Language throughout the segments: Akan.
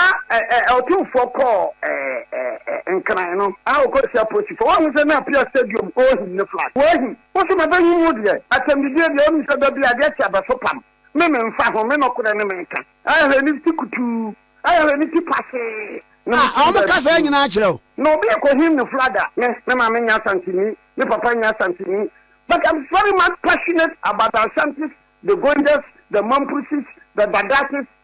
a ɛ ɛ ɔtumfoɔ kɔɔ ɛ ɛ ɛ nkran no a ɔkɔhyia polisifoɔ wahu sɛ na apia stadium ohim ne flag wɔahim wo so mapanyin mu deɛ atɛmdidie deɛ wonim sɛ da bi adeɛ kye abɛso pam me memfa ho me nɔkorɛ ne meka ahwɛ ne ti kutuu ahwɛ ne ti pasee na a wɔn ka saa nyinaa kyerɛ wo. na obi ɛkɔhim ne flag a me me maame nyɛ asanteni me papa nyɛ asanteni but I'm very much passionate about the Ashantis the Gonjas the Mampusis the Dadasis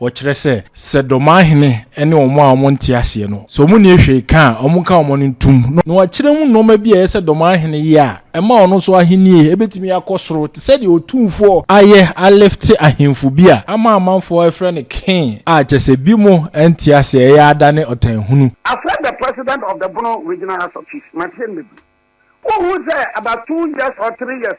Wɔkyerɛ sɛ, sɛ dɔmahene ne wɔn a wɔnte aseɛ no, sɛ wɔnni hwee ka a, wɔka wɔn ano ntom, na wɔakyerɛ mu nnoɔma bi a ɛyɛ sɛ dɔmahene yɛ a, ɛma ɔno nso ahennie bɛtumi akɔ soro, te sɛ deɛ otumfoɔ ayɛ alifte ahemfo bi a ama amanfoɔ refrɛ no king, a kyerɛ sɛ binom nte aseɛ, ɛyɛ ada ne ɔtanhunu. Afrɛ the president of the Bono regional house of chiefs, Martien Mebri. Wohu sɛ about two years or three years.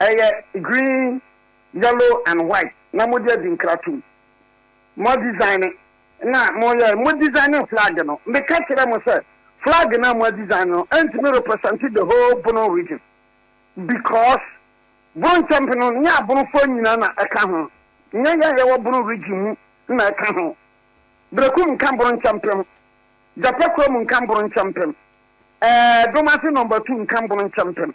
Ɛyɛ green, yellow and white na mode adi nkratom. Mo design na moyɛ, mo designing flag no, meka kyerɛɛ mo sɛ flag no a mo adesign no ɛntumi represent the whole Bono region because Bono nkyɛmpem no nyɛ Abonofoɔ nyinaa na ɛka ho, nyɛ yɛn a yɛwɔ Bono region mu na ɛka ho. Berekum nka Bono nkyɛmpem, Gyapɛ Kurom nka Bono nkyɛmpem, ɛɛ Domase number two nka Bono nkyɛmpem.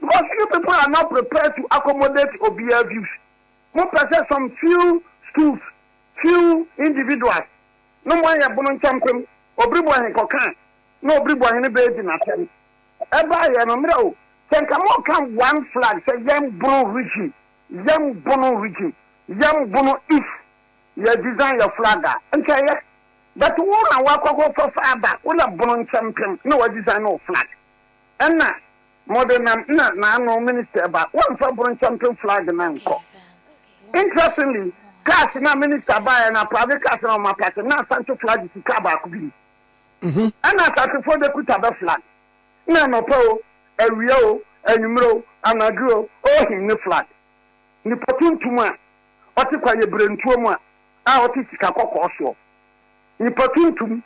Because you people are not prepared to accommodate obiara views. Mo pɛ sɛ some few schools, few individuals no mo ayɛ bono nkyɛmpem, obiriboɔhen kɔka a na obiriboɔhen no bɛɛ di n'asɛm. Ɛbaa yɛ no mmerɛ o, sɛ nka mo ka one flag sɛ yɛn bono region, yɛn bono region, yɛn bono east, yɛ design yɛ flag a, nka ɛyɛ. But wo na wakɔ akɔ fa fa aba, wo na bono nkyɛmpem na wa design no flag. Ɛna mode nam na naano minister ba wamfa boro champion flag na nkɔ interestingly cars na minister baɛ na private cars na ɔma parking na asante flag si car baako bi mu mhm. ɛna asasefoɔ de kuta bɛ flag na anɔpa o awia o anwummerɛ o anadwo o ɔhin ne flag nipa tuntum a ɔte kwa yɛ berentuo mu a a ɔte sika kɔkɔɔ soɔ nipa tuntum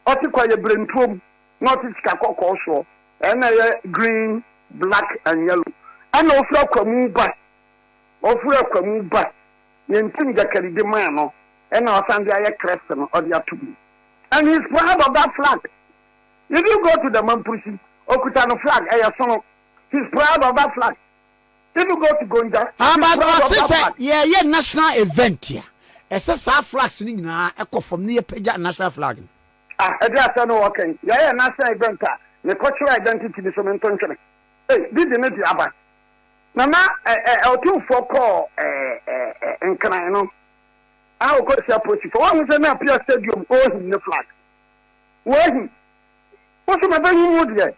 ɔte kwa yɛ berentuo mu na ɔte sika kɔkɔɔ soɔ, ɛna ɛyɛ green, black and yellow, ɛna ɔfiri akwamu ba, ɔfiri akwamu ba, yɛn ntim gyakari de maa no, ɛna ɔsan de ayɛ Christ no, ɔde ato mu. And he is proud of that flag. If you go to the Mamprisi, ɔkuta no flag, ɛyɛ sono. He is proud of that flag. If you go to Gonja, he ah, is proud of that flag. Ɔse sɛ yɛyɛ national event a, ɛsɛ saa flags no nyinaa ɛkɔ fam na yɛpagya national flag no. A ɛde asɛm no ɔɔka yi, yɛɛ yɛn nan sɛn event a, mekɔ kyerɛ identity bi so me nto ntwene. Ei, bi de ne de aba. Na na ɛ ɛ ɔtumfoɔ kɔɔ ɛ ɛ ɛ nkran no, a ɔkɔ hyia polisifoɔ, wɔahu sɛ na apia stadium ɔɔhim ne flag. Wɔahim. Wo so mabɛhim wo deɛ.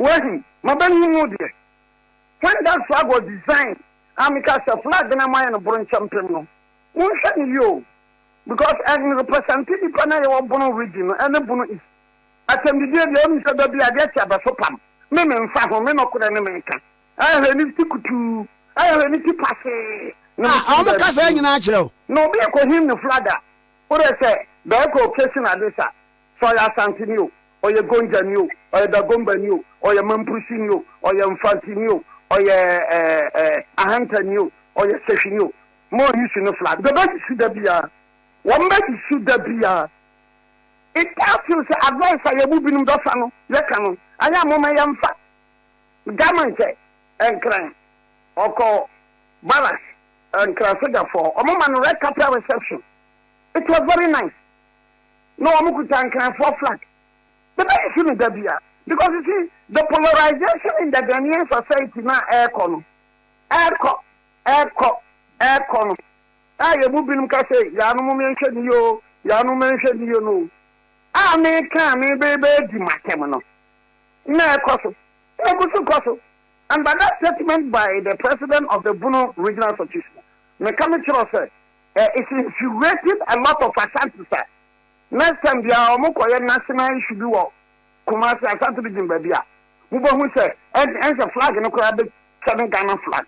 Wɔahim. Mabɛhim wo deɛ. When that flag was designed, a meka sɛ flag no a moayɛ no boronkyɛmpem no, monhwɛ no yie o. because ɛn represente nipa na yɛwɔ bono region no ɛne bono east atɛmdidie deɛ wonim sɛ dabi adeɛ kye abɛso pam me me nfa ho me nɔkorɛ ne me ka ɛyɛ hwɛ ne ti kutuu ɛyɛ hwɛ ne ti pasee ne me ti bɛbi kasa nyinaa kyerɛ wo na obi ɛkɔ him ne flag a wode sɛ bɛɛkɔ kesi na ade sa sɛ ɔyɛ asante ni o ɔyɛ gonja ni o ɔyɛ dagomba ni o ɔyɛ mampusi ni o ɔyɛ mfanti ni o ɔyɛ ɛɛ ɛɛ ahanta ni o ɔyɛ sehwi ni o Mo yi si no flat. Bɛ bɛ yi si da biaa. Wɔn bɛ yi si da biaa. It does feel sɛ advice a yɛ mu binom dɔ sa no yɛ ka no. Ayɛ a mo ma yɛ nfa. Dama nkyɛ. Nkran. Ɔkɔ barracks. Nkran soja fɔɔ. Ɔmo ma no red carpet reception. It was very nice. Na ɔmo kuta nkran fɔɔ flag. Bɛ bɛ yi si no da biaa. Because you see the polarization in the Ghanaian society na ɛɛkɔ no. Ɛɛkɔ. Ɛrekɔ, ɛrekɔ no, a yɛn mu binom ka sɛ, Yaanom mɛnhwɛ no yie o, yaanom mɛnhwɛ no yie no o. A meka a merebɛdi m'atɛm no, na ɛrekɔ so, na ɛgu so kɔ so. And by that statement by the president of the Bono Regional Association, meka mekyerɛw sɛ, eh, it's infuriating a lot of Ashantis a next time biara wɔkɔyɛ national issue bi wɔ Kumasi Asante region baabi a mo bɛ hu sɛ ɛnsɛ flag no koraa bɛ kyɛ ne Ghana flag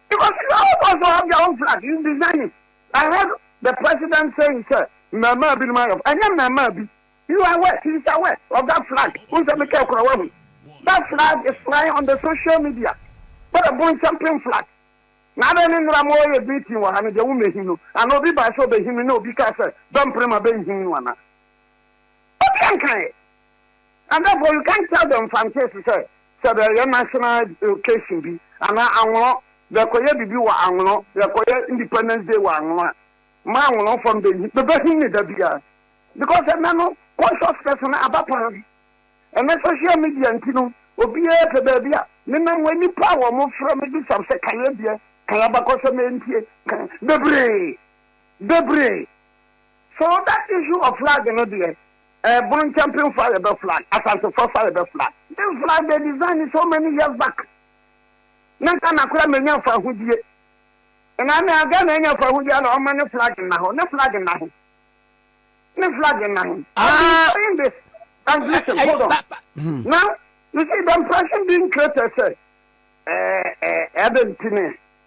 because you all also have your own flag you design it I heard the president saying sɛ mmɛɛmaa bi no ma yɛ ɛnyɛ mmɛɛmaa bi you are aware he is aware of that flag n sɛ mekɛ kora wahu that flag is flying on the social media but the bon champion flag na adɛ ne nnora mo yɛ meeting wɔ ha no deɛ wo mɛhim no ana obi baa sɛ ɔbɛhim no na obi kaa sɛ bɛmpere ma bɛnhim no ana Ɔkaa nkaeɛ. And therefore you can't tell the Mfantes sɛ sɛ bɛɛyɛ national occasion bi anaa Anwono bɛɛkɔyɛ biribi wɔ Anwono, bɛɛkɔyɛ Independence Day wɔ Anwono a, mma Anwonofoɔ no bɛnhi, bɛbɛhi no dabiaa. Because ɛnnɛ no consciousness no aba paa. Ɛnnɛ social media nti no, obiara pɛ baabi a menam wɔ nnipa a wɔfrɛ me bisa me sɛ ka yɛdeɛ, ka yɛabakɔsɛm ɛntie, ka bebree, bebree. For that issue of flag no deɛ eh, Buruntchampin fo a yɛbɛ flag, Asante fo fo a yɛbɛ flag. This flag they design so many years back na Ghana koraa mɛnya mfahodie. Ɛna na Ghana anya mfahodie a na ɔma ne flag nna hɔ, ne flag nna he? Ne flag nna he? I've been Ah. saying this and listen, Ɛy- hold on. ba- ba- hmm. Now, you see the impression being created sɛ ɛɛ ɛɛ ɛbɛ nti ne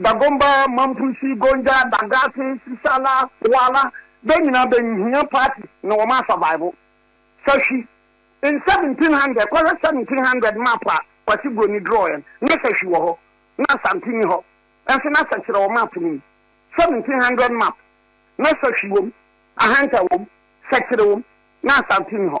Dagomba, Mampusi, Gonja, Dagase, Sisala, Poala, bɛ nyinaa bɛ nhia party na wɔn a survive. Fa hwi in seventeen hundred kɔhwɛ seventeen hundred map a Kwasi Broni draw yɛ no, na sɛ hwi wɔ hɔ, na Asante nni hɔ nso, na sɛ kyerɛ wɔ map no mu, seventeen hundred map, na sɛ hwi wɔ mu, Ahanta wɔ mu, sɛ kyerɛ wɔ mu, na Asante nni hɔ.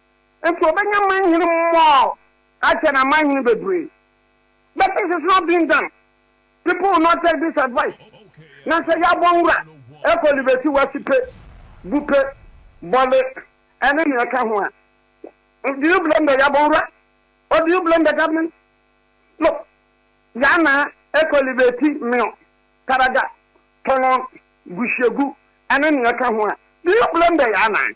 Enti ɔbɛnya manhene mmɔɔ akyɛ na manhene bebree But this is not being done People will not take this advice Na sɛ yɛabɔ nwura ɛkɔ Liberty West pe, Bupe, Bole ɛne nea ɛka ho a Do you blame the yɛabɔ nwura? Or do you blame the government? Look Yɛana ɛkɔ Liberty, Mio, Taraga, Tɔnɔn, Gusiegu ɛne nea ɛka ho a Do you blame the yɛana?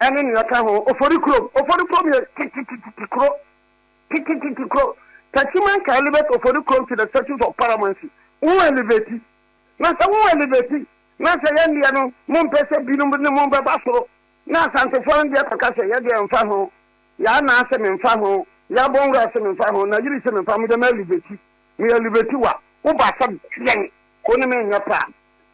ɛne nea ɛka ho, Ofori kurom. Ofori kurom yɛ tetetete kuro, tetetete kuro. Tasiman ka elevate Ofori kurom to the status of paramountcy. Wo elevate, na sɛ wo elevate, na sɛ yɛn deɛ no, mo mpɛ sɛ binom ne mo bɛba soro, na Asantefoɔ no deɛ kɔka sɛ, yɛ deɛ mfa ho, yɛ Anaa se memfa ho, yɛ Abɔnwura se memfa ho, Nayiri se memfa ho, me deɛ me elevate, me elevate wa, wo ba sɛ deɛn, wo ne me nyɛ paa.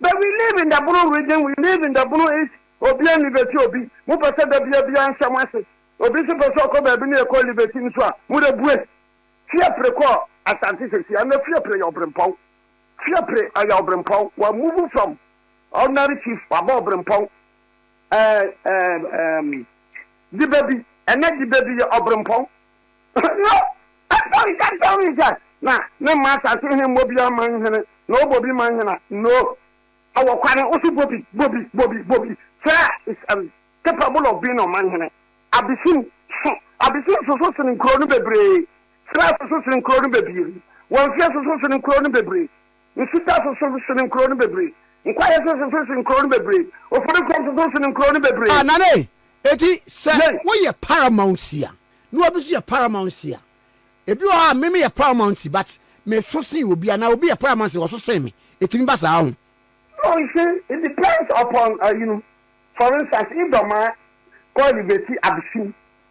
But we live in the Bono region, we live in the Bono East, obia nni bɛti obi, mo pɛ sɛ da bia bia nhyɛ mo ase, obi nso pɛ sɛ ɔkɔ baabi na yɛkɔ Liberty nso a, mo dɛ bue. Fiapre kɔɔ Asante sɛsi, ɛnɛ Fiapre yɛ Ɔbrempɔn. Fiapre ɛyɛ Ɔbrempɔn, wa move from ordinary chief waba Ɔbrempɔn. Ɛɛ ɛɛ ɛɛm Dibabi, ɛnɛ Dibabi yɛ Ɔbrempɔn. No, Ɛsɔre ka kyerɛ me sɛ, Na memma asase he mmɔ biaa mma yi hene, na ɔbɔ bi ma hena? No, Ɛwɔ kwane, wo se bɔ bi, bɔ bi, bɔ bi, bɔ bi, kyerɛ a is um, capable of being ɔman hene. Abisim so, Abisim soso sene nkuro no bebree, Sira soso sene nkuro no bebree, Wamfie soso sene nkuro no bebree. Nsutã soso sen nkurow no bebree. Nkwayɛ nso soso sen nkurow no bebree. Ofori fam soso sen nkurow no bebree. Nane, eti sɛ Yei. woyɛ paramountcy a na obi nso yɛ paramountcy a, ebi wɔ hɔ a me meyɛ paramountcy but meso sen obi anaa obi yɛ paramountcy a ɔso sen me. Etumi ba saa ho? No, you see, it depends upon ayinom. For instance, if Dɔmaa kɔ Eliveti Abesim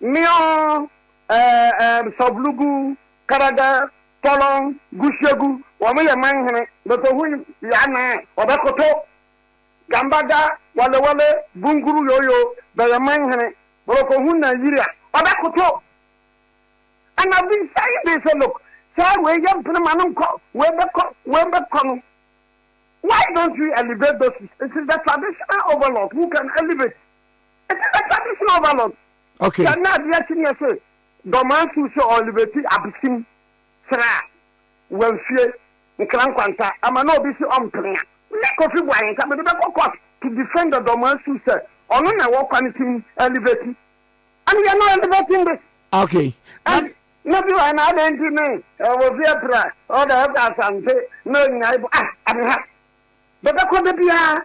Mion, Ɛɛm, Sɔvlugu, Kɛrɛdɛ, Tɔlɔn, Gusiegu, wɔn yɛ man hene. Bɛtɔhui yɛ anan, wɔbɛkoto. Gambaga, Walewale, Bunguru, Yoyo, bɛyɛ man hene. Borokohu na Yiri a, wɔbɛkoto. Ɛna Bisai de sɛ, Look, sɛ wei yɛ mpene ma no nkɔ, wei bɛkɔ, wei bɛkɔ no, why don't we elevate those, it is the traditional overlords who can elevate. Ɛsɛ bɛ sa bi sin overload. Okay. Sɛ na adeɛ kye neɛ se dɔmaa su sɛ ɔlibɛti abesim serɛ a wamfie nkra nkwanta ama na obi se ɔmpene a. Me Kofi Boahe nka mede bɛkɔ court to defend the dɔmaa su sɛ ɔno na ɛwɔ kwane sin ɛlibɛti. And yɛ no ɛlibɛti nde. Okay. And na bi wɔ na adɛn nti ne obi apira ɔda ɛkɔ asante na ɔnyina ibo ah adeha bɛbɛkɔ da biara.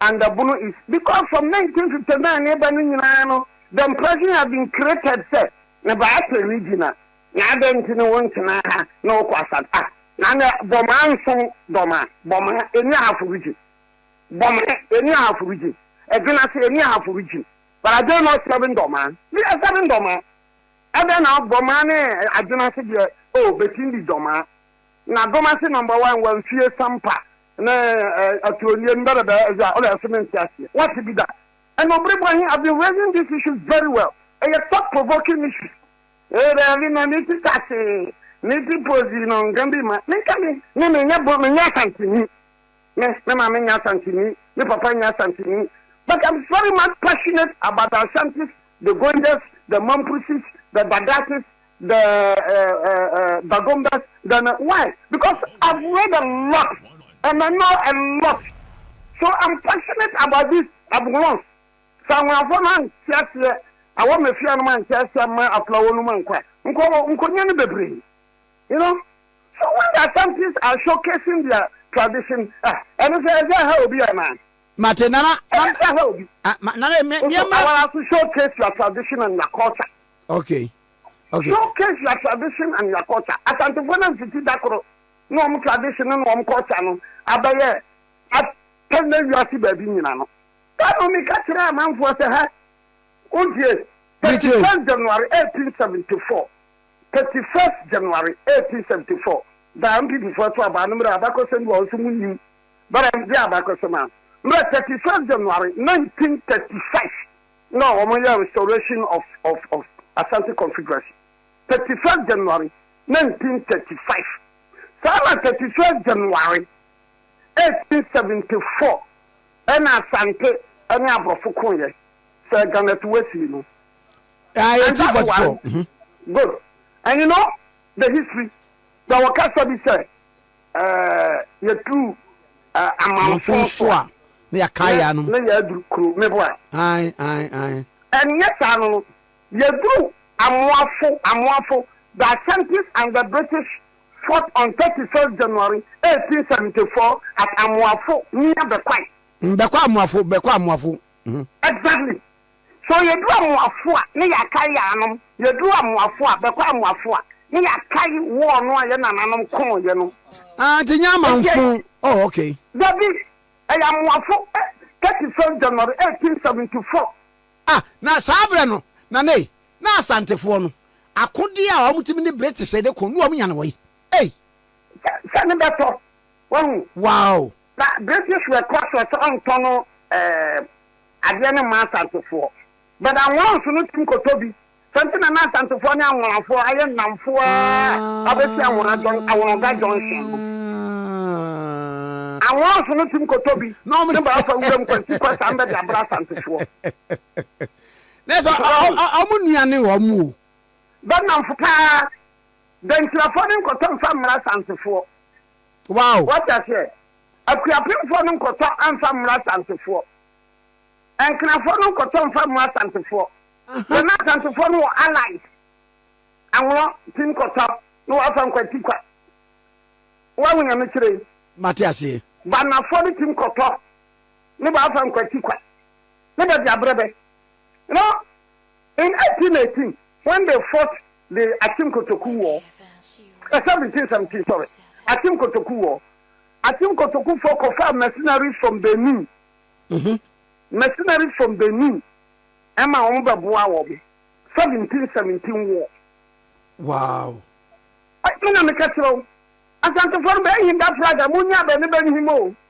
and the Bono East because from nineteen fifty nine ne ba no nyinaa no the impression has been created sɛ ne ba apɛ regional na adɛn nti ne wo ntena ha na wokɔ asad ah na ne bɔmaa nsom dɔma bɔmaa ɛni ahafo region bɔmaa ɛni ahafo region ɛdwena ase ɛni ahafo region but I don't know seven dɔmaa bi ɛ seven dɔmaa ɛdɛn na bɔmaa ne adwena ase deɛ oh bɛtindi dɔmaa Na Domasi number one wɔ nfie sampa ne aturo nie no bɛ bɛ bɛ ɛyɛ a ɔlɛ ɛso mente aseɛ wate bi da ɛna obere bɔ he I've been raising this issue very well ɛyɛ thought provoking issue. Ee daabi na me ti kase me ti pozi no nka bi ma me nka me ne me nyɛ bo me nyɛ asanteni. Me me maame nyɛ Asanteni, me papa nyɛ Asanteni, but I'm very much passionate about the Ashantis, the Goidas, the Mampusis, the Dadasis, the uh, uh, uh, Bagombas, the why? Because I've read a lot and I know a lot, so I'm passionate about this abulance. Sɛ ahoafo no ankyɛ aseɛ, awɔ mafia no ankyɛ aseɛ ma aflawo no ma nkwa, nkɔ nkɔnya no bebree, you know. So when the Ashantis are showcasing their tradition ah, ɛno sɛ ɛsɛ ha obi anaa? Mate nana. Ɛsɛ sɛ ha obi. Ah, ma, nana me me ma. Awara so showcase your tradition and your culture. Okay. Okay. Showcase your tradition and your culture. Asantefo na mfiti dakoro na wɔn tradition na wɔn culture no abɛyɛ atɛn na wiase baabi nyina no. Ɛna mi ka kyerɛ amanfoɔ sɛ ha, o die, 31 January 1874. Thirty first January eighteen seventy four da a MPP foɔ to aba no mmerɛ a abakɔsɛm bi wɔ hɔ nso mo nim but ɛn deɛ abakɔsɛm a mmerɛ thirty first January nineteen thirty five na wɔn yɛ restoration of of of Asante Confederacy thirty first January nineteen thirty five saa na thirty first January eighteen seventy four ɛna Asante ɛne aborɔfo ko yɛ sɛ Ghana to wasi no. Ah, And 1844. that one, Mm -hmm. good. And you know the history. Sɛ wɔkasa bi sɛ eh, yɛtu eh, amanfo so a na yɛaka yɛ ano na yɛaduru kuro mebo a ae ae ae ɛnyɛ saa no no yɛduru amoafo amoafo the ashantis and the british fought on 31st january 1874 at amoafo near bɛkwae mbɛkɔ amoafo bɛkɔ amoafo exactly So yɛduru amoafo a, ne yɛakae yɛanom? Yɛduru amoafo a, bɛkɔ amoafo a, ne yɛakae wɔɔ no a yɛ nananom koo yɛ no? Ah, nti nyɛ amanfo, oh ok. Dabi, ɛyɛ amoafo, eh, 31st January 1874. Ah, na saa berɛ no, Nana ei, na Asantefoɔ no, akodeɛ a wɔtumi ne British de ko, na wɔnya no ei, ei. Sɛ, sɛ ne bɛtɔ, wahu. Wow, Na British were cautious sɛ ɔntɔ no ɛɛm adeɛ no mma Asantefoɔ. But Anworanso no tumi kɔtɔ bi. Saa nti na na Asantefoɔ ne Anworanfoɔ ayɛ nnamfo ara abɛsi Anwora junc Anworonga junction no. Anworanso no tumi kɔtɔ bi Na ɔmo ne ba afa wuram kwansi kɔ saa mbɛde abrɛ Asantefoɔ. Na ɛsɛ So ɔmo wɔn. ɔmo nua ne wɔn o. Bɛ nnamfo paa. Dankyirafoɔ no nkɔtɔ mfa mmrɛ Asantefoɔ. Wow! Wate aseɛ? Akuapemfoɔ no nkɔtɔ mfa mmra Asantefoɔ. Nkenafoɔ no nkɔtɔ mfa mmra Asantefoɔ. Yɛn na Asantefoɔ no wɔ allies. Anwono ti nkɔtɔ na wafa nkwati kwa. Wahu nyame kyerɛ yi? Mate aseɛ. Banafoɔ no ti nkɔtɔ ne baafa nkwati kwa. Ne bɛde abrɛ bɛ. No. In 1818, when they fought the Akim Kotoku War, eh, 1717, sorry, Akim Kotoku War, Akim Kotoku fo kɔfaa mercenaries from Benin, mm-hmm. mercenaries from Benin, ɛma wɔn bɛboa wɔn, 1717 war. Wow. Ɛna meka kyerɛ wo, asantefoɔ no bɛyɛ hinda flag a monya bɛne bɛne him o.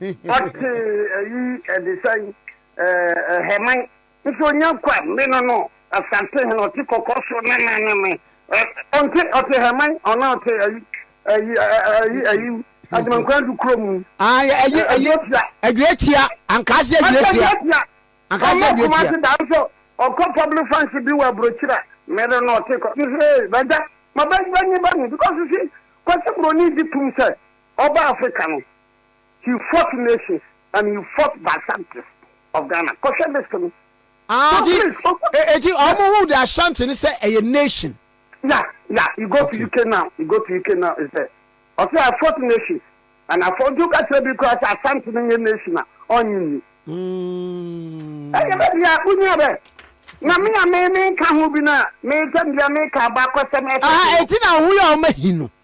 Ɔtee ayi ɛdesɛn ɛɛ Hɛman nso ɔnya kwa me no no Asante hene ɔte kɔkɔ so na na ne me ɛ ɔnte ɔte Hɛman ɔna ɔte ayi ayi ayi ayi Ademankwan du kuro mu Ah yɛ ayi ayi Adwotia Adwotia Ankaase Adwotia Adwotia Ankaase Adwotia Ɔma Kumasi da nso ɔkɔ public function bi wɔ Aburokyira me no na ɔte kɔ me sɛ ee bagya ma bɛ bɛ nye ba ni because si Kwasi Broni gye tum sɛ ɔba Africa no he fought nations and he fought by Shanties of Ghana kɔhwɛ list no. Ah, so ti, please ogu. E, e, ti, ɔmo hu de Ashanti ne sɛ ɛyɛ nation. Yeah, yeah, you go okay. to UK now, you go to UK now, is there? Ɔsɛ I fought nations and I fought, nti wokasa bi kura sɛ Ashanti ne nyɛ nation a, ɔnye nni. Ɛyɛ bɛ bia, wonya bɛ. Na me a me me nka ho bi na me tɛm bia me ka aba kɔsɛm ɛfɛ. Ah, eti na ho yɛ ɔmo ahi no.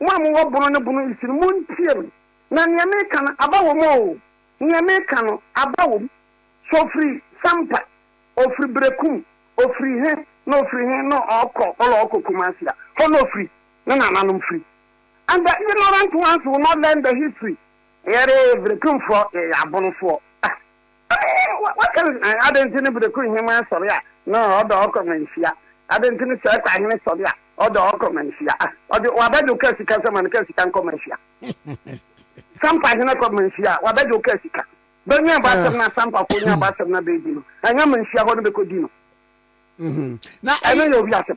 Mo a mowɔ bono ne bono nsi no, montie me, na nea meka no, aba wom oo, nea meka no, aba wom. So ofiri Sampa, ofiri Berekum, ofiri he na ofiri he na ɔɔkɔ, ɔla ɔɔkɔ Kumasi a, hɔ na ofiri, ne nananom firi. And the ignorant ones will not learn the history, yɛre Berekumfoɔ, yɛyɛ abonofoɔ. Ah! Wɔka no sɛ, Adɛn nti ne bere koro hemmaa sɔre a na ɔdɔ ɔkɔ ma nhyia? Adɛn nti ne sɛɛ kɔ ahene sɔre a ɔdɔ ɔkɔ ma nhyia? Ɔde w'abadwo ka sika sɛ ma no ka sika nkɔ ma nhyia. Sampa ahene kɔ ma nhyia a w'abadwo ka sika. Bɛnwɛn abɔ asɛm no asampafoɔ nya abɔ asɛm no abɛdi no, ɛnyɛ ma nhyia hɔ no bɛkɔdi no. Ɛno yɛ obi asɛm.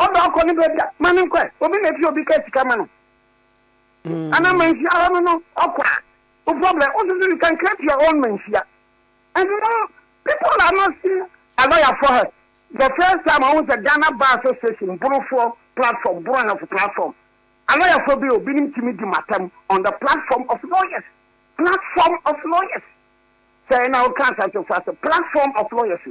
Ɔdɔ akɔ ne baabi a, ma no nkɔ ɛ. Obi na ɛti obi ka sika ma no anaa manhyia ara no no ɔkɔ a, wo problem. Wo nso so you can create your own manhyia. And you know, people are not seeing a lawyer for her. The first time ɔhu sɛ Ghana Bar Association, Borofoɔ platform, Boro Ahemfo platform, a lawyer for bi o, binom tumi di matam on the platform of lawyers. Platform of lawyers. Sɛ ɛna woka asantefo ase, platform of lawyers o.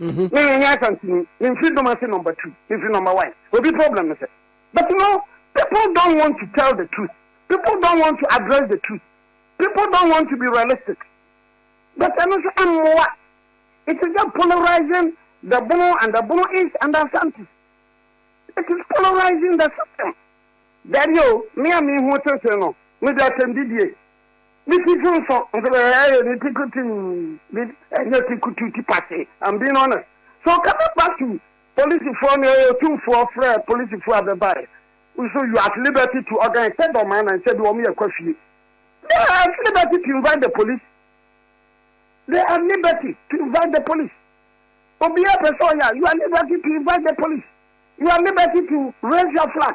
Mhm. Me menyɛ asantini me mfiri dom ase number two me firi number one obi problem no sɛ but no people don't want to tell the truth people don't want to address the truth people don't want to be realistic but ɛno nso ɛmmoa it is just polarizing the bono and the bono is and the asante it is polarizing the system dabi o me a me ho tenten no me de atɛmdidie Ne ti so nso, nso ɛyɛ ne ti kutuu, ne ɛnyɛ ti kutuu, ti pase, ambi no na. So ɔka sɛ Basu polisifoɔ no ɛyɛ otumfoɔ frɛɛ polisifoɔ a bɛbaeɛ, nso you at liberty to organize sɛ dɔm anan sɛ bi wɔn yɛ kwa fie. They are at liberty to invite the police. They are at liberty to invite the police. Obiara pɛ sɛ ɔyɛ a, you are at liberty to invite the police. You are at liberty to raise your flag.